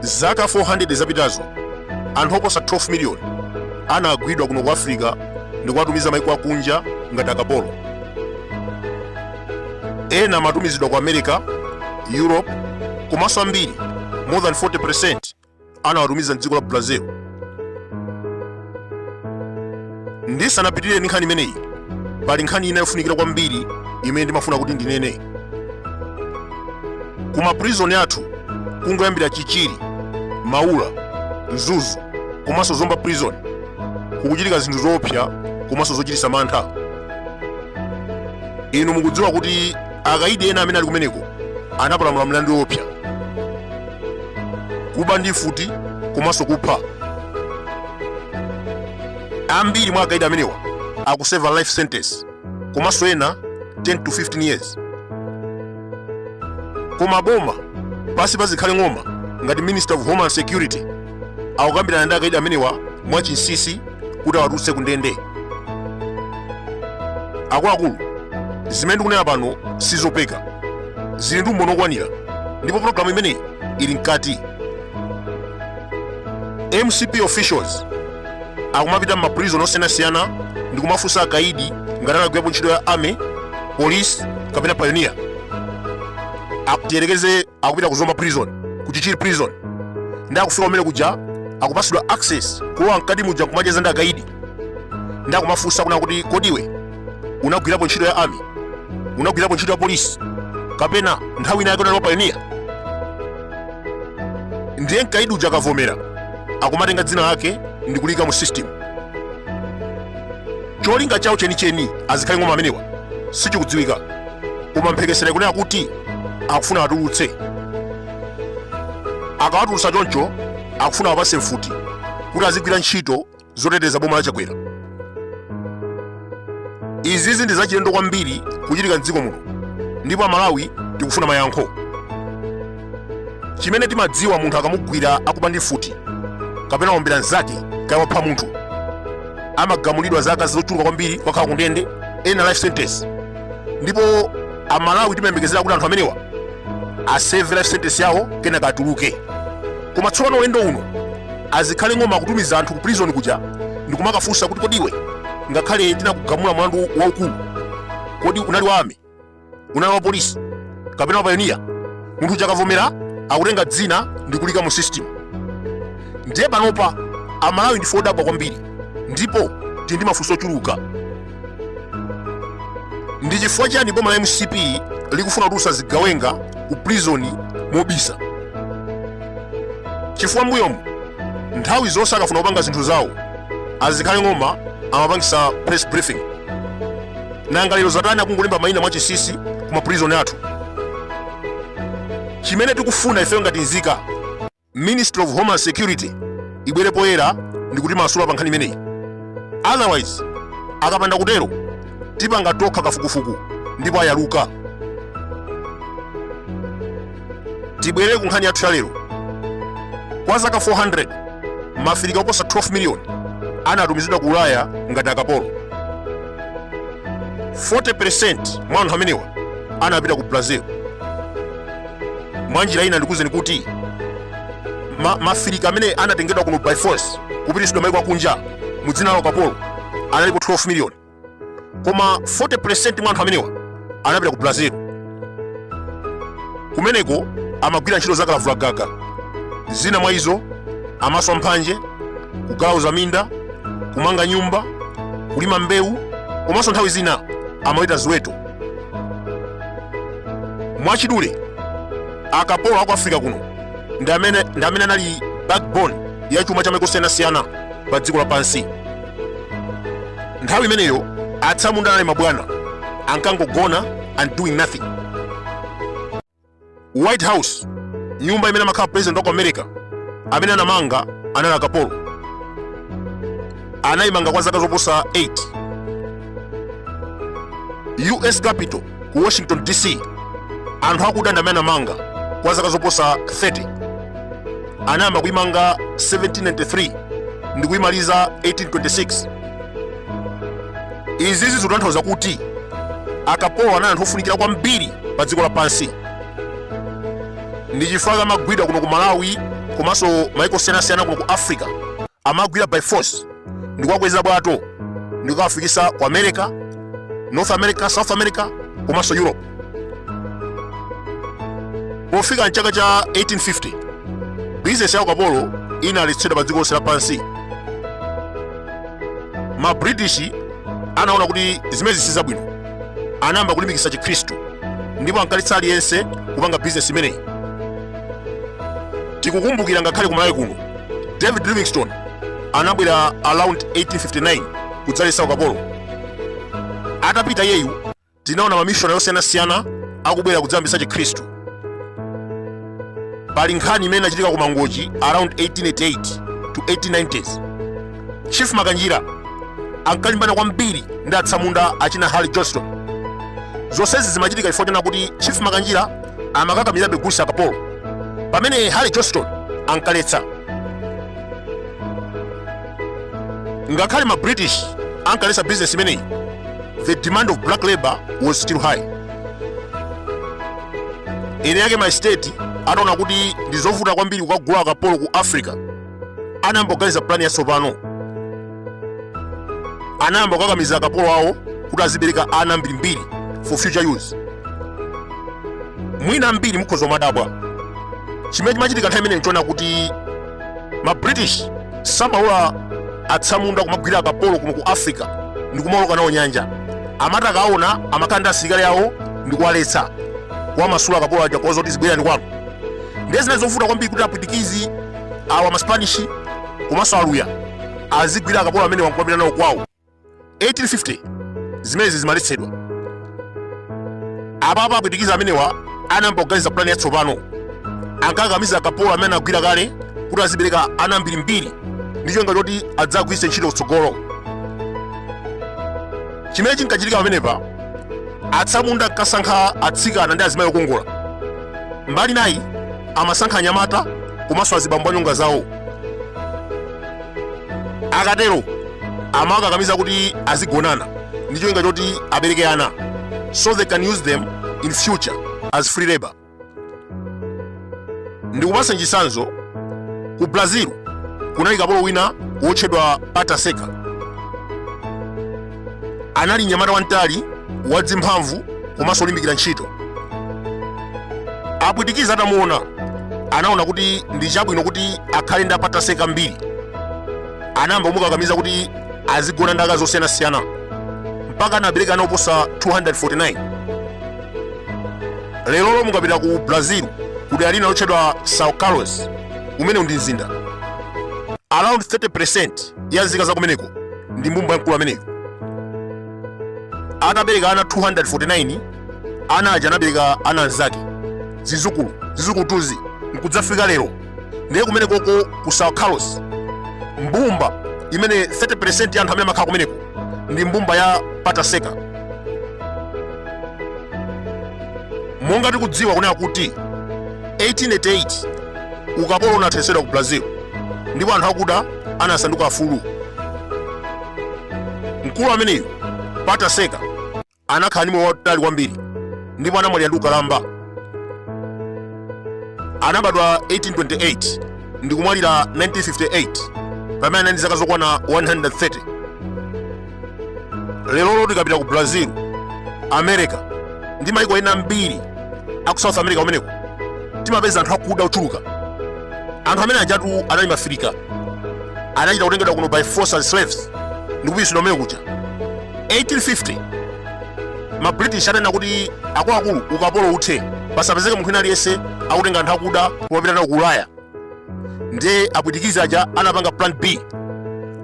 zaka 400 zapitazo anthu oposa 12 miliyoni anagwidwa kuno ku africa ndi kuwatumiza maiko akunja ngati akapolo ena amatumizidwa ku america europe komanso ambiri more than 40 anawatumiza mdziko la Brazil. Ndisanapitirire ndi nkhani imeneyi, pali nkhani ina yofunikira kwambiri imene ndimafuna kuti ndinene. Ku maprizoni athu kungoyambira Chichiri, Maula, Mzuzu komanso Zomba prison kukuchitika zinthu zoopsa komanso zochititsa mantha. Inu mukudziwa kuti akaidi ena amene ali kumeneko anapalamula mlandu woopsa kuba ndi mfuti komanso kupha ambiri mwa akaidi amenewa akuseva life sentence komanso ena 10 to 15 years koma boma pansi pa zikhale ng'oma ngati minister of homeland security akukambirana ndi akaidi amenewa mwachinsinsi kuti awatulutse ku ndende akuluakulu zimene ndikunena pano sizopeka zili ndi umboni okwanira ndipo pologalamu imeneyi ili mkati mcp officials akumapita m'maprison osiyanasiyana ndi kumafunsa akaidi ngati anagwirapo ntchito ya army police kapena pioneer tiyerekeze akupita ku zomba prison ku chichiri prison ndi akufika kumene kuja akupasidwa access kulowa mkati muja nkumacheza ndi akaidi ndi akumafunsa kunena kuti kodi iwe unagwirapo ntchito ya army unagwirapo ntchito ya polisi kapena nthawi ina yake unali wapayoniya ndiye mkaidi uja akavomera akumatenga dzina lake ndi kuliika mu system cholinga chawo chenicheni a zikhale ng'oma amenewa sichikudziwika koma mphekesera ikunena kuti akufuna awatulutse akawatulutsa choncho akufuna awapatse mfuti kuti azigwira ntchito zoteteza boma la chakwera izizi ndi zachilendo kwambiri kuchitika mdziko muno ndipo amalawi tikufuna mayankho chimene timadziwa munthu akamugwira akuba ndi mfuti kapena wombera mzake kaya wapha munthu amagamulidwa zaka zochuluka kwambiri kukakhala kundende ena life sentence ndipo amalawi timayembekezera kuti anthu amenewa aseve life sentence yawo kenaka atuluke koma tsopano ulendo uno a Zikhale Ng'oma akutumiza anthu ku prison kuja ndikumakafunsa kuti kodi iwe ngakhale tinakugamula mlandu waukulu kodi unali wa army unali wa polisi kapena wa payoniya munthu uja akavomera akutenga dzina ndikuliika mu system ndiye panopa amalawi ndife odabwa kwambiri ndipo tili ndi mafunso ochuluka ndi chifukwa chani boma la mcp likufuna kutulutsa zigawenga ku prizoni mobisa chifukwa mbuyomu nthawi zonse akafuna kupanga zinthu zawo a Zikhale Ng'oma amapangisa press briefing nanga lero zatani akungolemba mayina mwachinsinsi ku maprizoni athu chimene tikufuna ifeyo ngati nzika ministry of homeland security ibwere poyera ndikutimasula pa nkhani imeneyi otherwise akapanda kutero tipanga tokha kafukufuku ndipo ayaluka tibwere ku nkhani yathu yalero kwa zaka 400 ma Afirika oposa 12 miliyoni anatumizidwa ku ulaya ngati akapolo 40% mwa anthu amenewa anapita ku brazil mwa njira ina ndikuzeni kuti ma Afirika amene anatengedwa kuno by force kupititsidwa maiko akunja mu dzina la ukapolo analipo 12 miliyoni koma 40% mwa anthu amenewa anapita ku brazil kumeneko amagwira ntchito za kalavulagaga zina mwa izo amaswa mphanje kugalauza minda kumanga nyumba kulima mbewu komanso nthawi zina amaweta ziweto mwachidule akapolo aku africa kuno ndi amene anali backbone ya chuma cha maiko osiyanasiyana pa dziko lapansi nthawi imeneyo atsamunda anali mabwana ankangogona and doing nothing white house nyumba imene amakhala president wa ku america amene anamanga anali akapolo anayimanga kwa zaka zoposa 8 us capitol ku washington dc anthu akuda ndi amene anamanga kwa zaka zoposa 30 anayamba kuyimanga 1793 ndi kuyimaliza 1826 izizi zikutanthauza kuti akapolo anali anthu ofunikira kwambiri pa dziko lapansi ndi chifukwa amagwidwa kuno ku malawi komanso maiko osiyanasiyana kuno ku africa amawagwira by force ndikuwakweza bwato ndikukawafikisa ku america north america south america komanso europe pofika mchaka cha 1850 bizinesi ya ukapolo inaletsedwa pa dziko lonse lapansi ma british anaona kuti zimenezi si zabwino anayamba kulimbikitsa chikhristu ndipo ankaletsa aliyense kupanga bizinesi imeneyi tikukumbukira ngakhale ku malawi kuno david livingstone anabwera around 1859 kudzaletsa ukapolo atapita yeyu tinaona mamishonari osiyanasiyana akubwera kudzayambitsa chikhristu pali nkhani imene inachitika ku mangochi around 1888 to 1890s chief makanjira ankalimbana kwambiri ndi atsamunda achina harry johnston zonsezi zimachitika chifukwa choona kuti chief makanjira amakakamirabe kugulitsa akapolo pamene harry johnston ankaletsa ngakhale ma british ankaletsa bizinesi imeneyi the demand of black labor was still high eni ake ma state anaona kuti ndi zovuta kwambiri kukagula akapolo ku africa anayamba kuganiza plani yatsopano anayamba kukakamiza akapolo awo kuti azibereka ana ambirimbiri for future use mwina ambiri mukhoza kumadabwa chimene chimachitika nthawi imeneyo nchoona kuti ma british samalola atsamunda kumagwira akapolo kuno ku africa ndi kumaoloka nawo nyanja amati akaona amakhala ndi asilikali awo ndi kuwaletsa kuwamasula akapolo aja kuwauza kuti zibwererani kwanu ndiye zinali zovuta kwambiri kuti apwitikizi awa maspanishi komanso aluya azigwira akapolo amene nkumapita nawo kwawo 1850 zimenezi zimaletsedwa apapa apwitikizi amenewa anayamba kuganiza pulani yatsopano ankakamiza akapolo amene anagwira kale kuti azibereka ana ambirimbiri ndi cholinga choti adzagwiritse ntchito kutsogolo chimene chinkachitika pamenepa atsamunda ankasankha atsikana ndi azimayi okongola mbali inayi amasankha anyamata komanso azibambo anyonga zawo akatero amawakakamiza kuti azigonana ndi cholinga choti abereke ana so they can use them in future as free labor ndikupatsa chitsanzo ku brazil kunali kapolo wina wotchedwa pata seca anali mnyamata wamtali wadzimphamvu komanso olimbikira ntchito apwitikizi atamuona anaona kuti ndi chabwino kuti akhale ndi a pata seca ambiri anayamba kumukakamiza kuti azigona ndi akazi osiyanasiyana mpaka anabereka ana oposa 249 lerolo mukapita ku brazil ku dera lina lotchedwa sao carlos umene uli mzinda around 30% ya nzika za kumeneko ndi mbumba ya mkulu ameneyo atabereka ana 249 ana aja anabereka ana anzake zizukulu zizukulutuzi nkudzafika lero ndiye kumenekoko ku sao carlos mbumba imene 30 ya anthu amene amakhala kumeneko ndi mbumba ya Pata Seca monga tikudziwa kunena kuti 1888 ukapolo unathetsedwa ku brazil ndipo anthu akuda anasanduka afulu. Mkulu ameneyo Pata Seca anakhala ndi moyo wautali kwambiri ndipo anamwalira ndi ukalamba. Anabadwa 1828 ndi kumwalira 1958 pamene anali ndi zaka zokwana 130. lero tikapita ku brazil america ndi maiko ena ambiri aku south america kumeneko timapeza anthu akuda ochuluka anthu amene ajatu anali maafirika anachita kutengedwa kuno by force as slaves ndi kupititsidwa kumene kuja 1850 ma british ananena kuti akuluakulu ukapolo uthe pasapezeke munthu wina aliyense akutenga anthu akuda kuwapita nawo ku ulaya ndiye apwitikizi aja anapanga plan b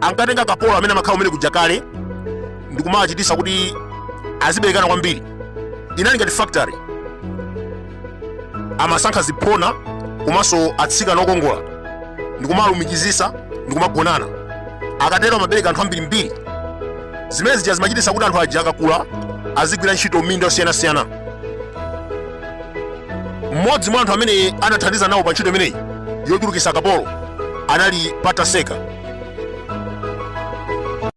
ankatenga akapolo amene amakhala kumene kuja kale ndikumawachitisa kuti aziberekana kwambiri inali ngati factory amasankha ziphona komanso atsikana okongola ndikumalumikizisa ndikumagonana akatero amabereka anthu ambirimbiri zimene zija zimachitisa kuti anthu aja akakula azigwira ntchito m'minda yosiyanasiyana mmodzi mwa anthu amene anathandiza nawo pa ntchito imeneyi yochulukitsa akapolo anali Pata Seca